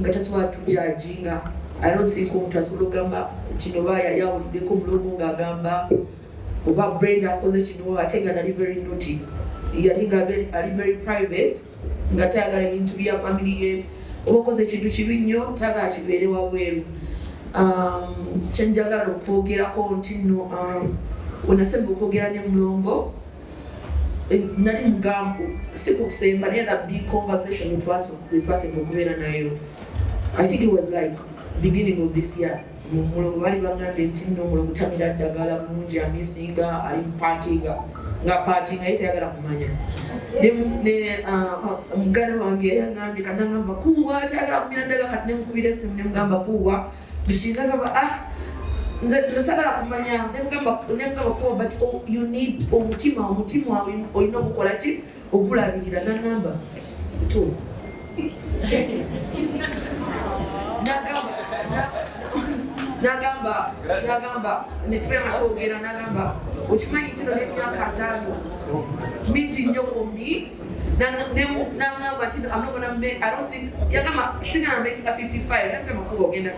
nga tasobola tujajinga i don't think omuntu asobola okugamba kino ba yali awuliddeko mulongo ng'agamba oba brenda akoze kino ate nga nali very noty yali nga ali very private nga tayagala ebintu bya family ye oba okoze ekintu kibi nnyo tayagala kibeere wabweru um, kyenjagala okwogerako nti no um, wenasemba okwogera ne mulongo eh, nali mugambo si ku kusemba naye the big conversation twasooka okubeera nayo i think it was like beginning of this year mumulogo bali bagambye nti nno omulogo tamira ddagala mungi amisinga ali mupatinga nga patinga ye tayagala kumanya muganda uh, uh, wange yagambye kanagamba kuwa tayagala kumira ddaga kati nemukubira esimu nemugamba kuwa Bishiza kaba ah nze nze sagala kumanya nemugamba nemugamba kuba but oh, you need omutima omutima olina okukola ki okulabirira nangamba to nagamba nagamba nagamba netubeera twogera nagamba okimanyi kino nemyaka ataano mingi nnyo ku mi nangamba nti yagamba sigana mekika 55 nagamba kuba ogenda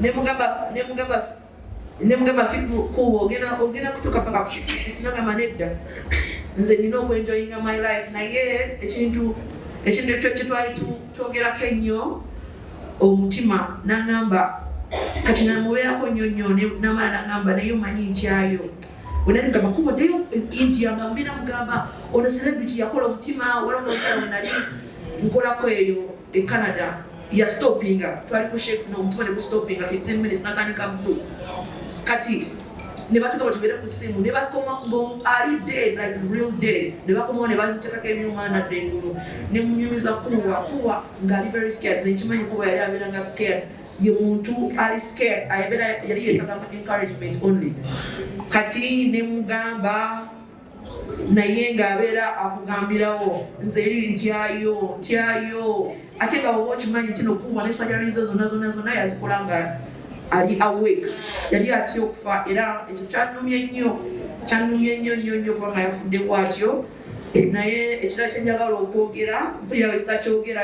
nemugamba nemugamba nemugamba kuba ogenda ogenda kutuuka paka ku 66 nagamba nedda nze nina okwenjoyinga my life naye ekintu ekintu ekyo kyetwali twogerako ennyo omutima nangamba kati namubeerako nnyo nnyo namala nagamba naye omanyi ntyayo wenanidde amakubo ddeyo india nga mubina mugamba ono celebrity yakola omutima wala omukyalo nali nkolako eyo e canada ya stoppinga twali ku chef nomutima ne ku stoppinga 15 minutes natandika bulu kati ne batuka batubere ku simu ne bakoma mbu ali dead like real dead ne bakomawo ne bamutekako ebyuma nadde engulu ne munyumiza kuwa kuwa ngaali very scared nkimanyi kuba yali abeera nga scared ye muntu ali scared ayebera yali yetaga mu encouragement only kati ne mugamba naye nga abeera akugambirawo nze eri ntyayo ntyayo ate nga woba okimanyi nti nokuuma ne sajarizo zonna zonna zonna yazikola nga ali awake yali atya okufa era ekyo kyanumye nnyo kyanumye nnyo nnyo nnyo kubanga yafudde bwatyo naye ekira kyenjagala okwogera mpulira wekitakyogera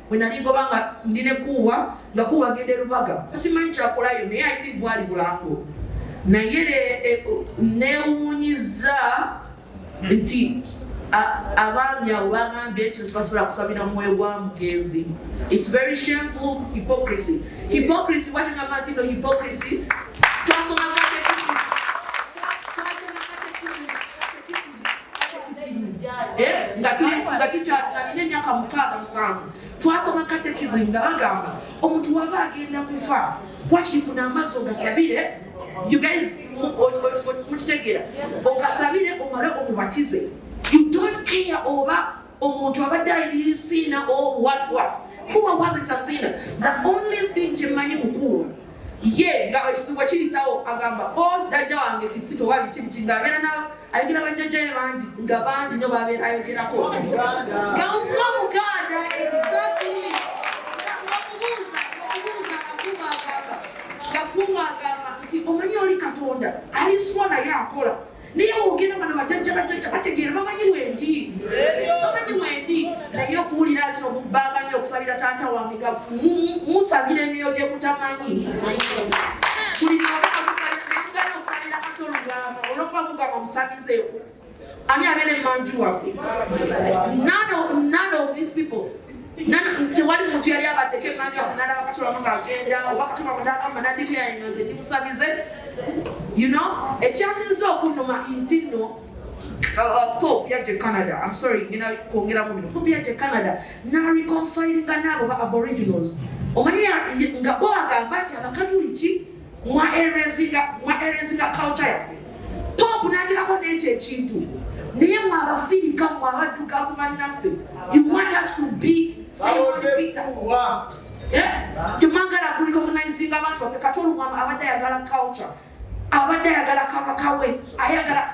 bwe nali ngoba nga ndi ne kuuwa nga kuuwa agenda erubaga simanyi kyakolayo naye ayiri gwali bulango naye eh, newunyiza nti abaami abo bagambye nti tebasobola kusabira mwoyo gwa mugenzi its very shameful hypocrisy hypocrisy bwatengamba nti no hypocrisy twasoma Eh, nga tukyalina emyaka mukaaga musanvu twasoma katekizimu nga bagamba omuntu waba agenda kufa wakiri funa amaazi ogasabire mukitegeera ogasabire omale omubatize you don't care oba omuntu abadde ayisiina owatwat kuba wasn't a sinner the only thing kyemanyi mukuwa ye nga ekisibwa kiritawo agamba o oh, jajja wange kisito wali kibiti nga abeera na ayogera bajjajjaye bangi nga bangi nyo babeera ayogerako nga nga muganda exactly gakuuma agamba nti omanyi oli katonda aliswa naye akola naye wogera bana bajajja bajajja bategeera bamanyi wendi bamanyi wendi naye okuwulira nti okubbanga nyo okusabira taata wange ga musabira emiyo gye kutamanyi buli naakusabiraa okusabira kati olugamba olwokuba mugamba musabizeewo ani abeera emanju waffe none of these people tewali muntu yali abaddeko emmanju awo nalaba katulamu ng'agenda oba katulamu n'agamba nadiklayinga nze ndi musabize you know ekyasinza okunnuma nti nno Uh, uh, Pope yadde Canada, I'm sorry, ngina kwongera mu bino. Pope yadde Canada na reconciling n'abo ba Aboriginals. Omanyi nga bo agamba nti Abakatuliki mwa erezinga mwa erezinga culture yaffe pop natekako n'ekyo ekintu naye mwe abafirika mwe abaddugavu bannaffe you want us to be eh? temwagala kulika obunayizinga abantu baffe kati olumwama abadde ayagala culture abadde ayagala kabaka we ayagala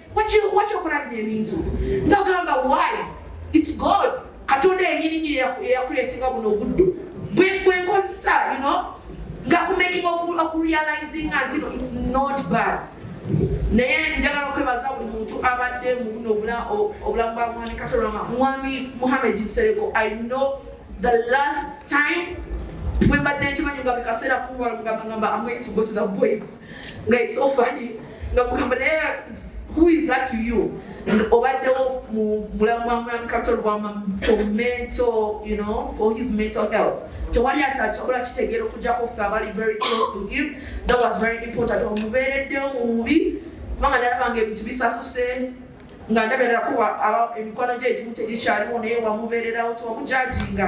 Wakyo okulabira ebintu nga gamba why it's God katonda yenyininyini eyakuleetera buno obuddu bwenkozesa ino nga kumaking okurealizinga nti no it's not bad naye njagala okwebaza buli muntu abadde mubuno obulamu bwa mwami katolama mwami muhammed nsereko i know the last time bwembadde nkimanyi nga bikaseera kuwangamba am going to go to the boys nga it's so funny nga kugamba naye who is that to you obaddewo mu bulamu bwa mwami kapitol bwa mental you know or his mental health tewali atakikola kitegeera okujjako ffe abali very close to him that was very important omubeereddewo mu bubi kubanga nalaba nga ebintu bisasuse nga ndabeerera kuba emikwano gye egimu tegikyaliwo naye wamubeererawo tewamujajinga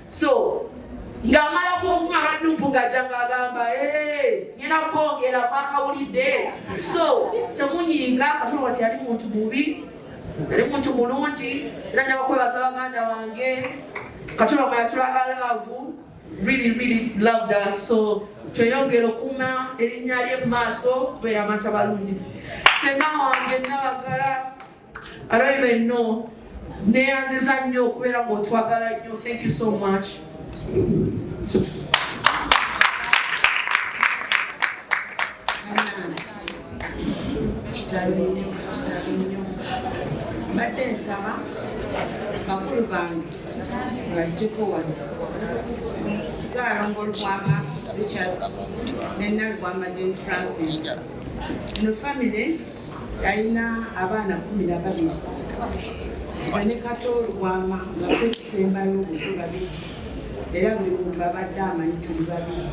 so ng'amala kuvuma abadupu ng'ajja ng'agamba ngenda kwongera mwakawulidde so temunyiinga katonda wati yali muntu mubi yali muntu mulungi era njaba kwebaza baganda wange katonda mwe yatulaga laavu really really loved us so tweyongera okuuma erinnya lye mu maaso kubeera amata balungi senna wange nabagala Araiba enno neyanziza nnyo okubeera ng'otwagala nnyo thank you so much mbadde nsaba bakulu bange bajjeko wano saalongo lubwama richard nenalubwama jen francis no famire yalina abaana kumi na babiri nze ne kato lubwama nga tukisembayo obutu babiri era buli muntu abadde amanyi tuli babiri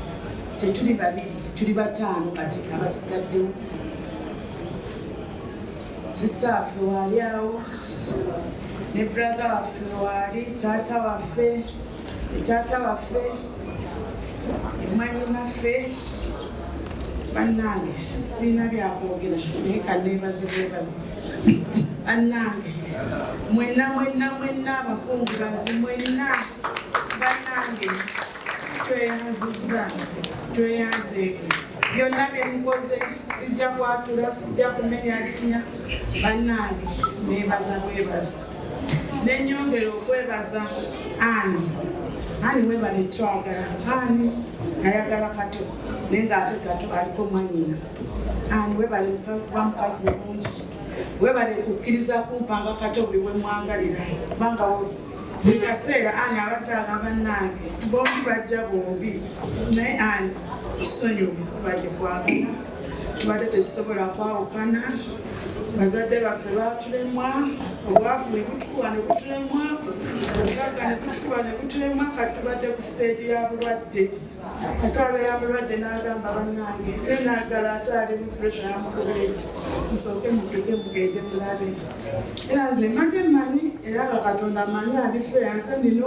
tetuli babiri tuli bataano kati abasigaddewo sisita waffe waali awo ne brother waffe waali taata waffe taata waffe mwanyinaffe bannange sirina byakwogera naye kaneebaze bwebazi bannange mwenna mwenna mwenna abakungubazi mwenna bannange tweyanzizza tweyanzeeko byonna byemukoze sijja kwatula sijja kumenya linnya bannange neebaza bwebazi nenyongera okwebaza ani ani webale twagala ani ayagala kato naye nga ate kato aliko mwanyina ani webale kuba mukazi mulungi webale kukkiriza kumpanga kato buli wemwagalira kubanga buli kaseera ani abadde agamba nange bombi bajja bombi naye ani sonyiwa kubadde kwagala tubadde tekisobola kwawukana bazadde baffe batulemwa obwavu nebutukuba nebutulemwa obugagga nebutukuba nebutulemwa kati tubadde ku siteegi ya bulwadde ate abeera mulwadde n'agamba bannange e naagala ate ali mu pressure yamukubee musooke muduke mugende mulabe era nze mbadde manyi era nga katonda manyi alife yanse nina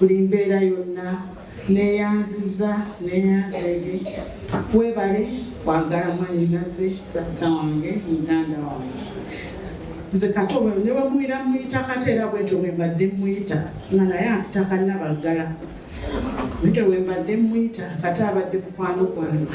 buli mbeera yonna neyanziza neyanzege webale kwagala mwanyinaze taata wange muganda wange nze kato newemuwira muyita kateera bwetyo wembadde muyita nga naye akitakannabaggala bwetyo wembadde muyita kate abadde mukwano gwange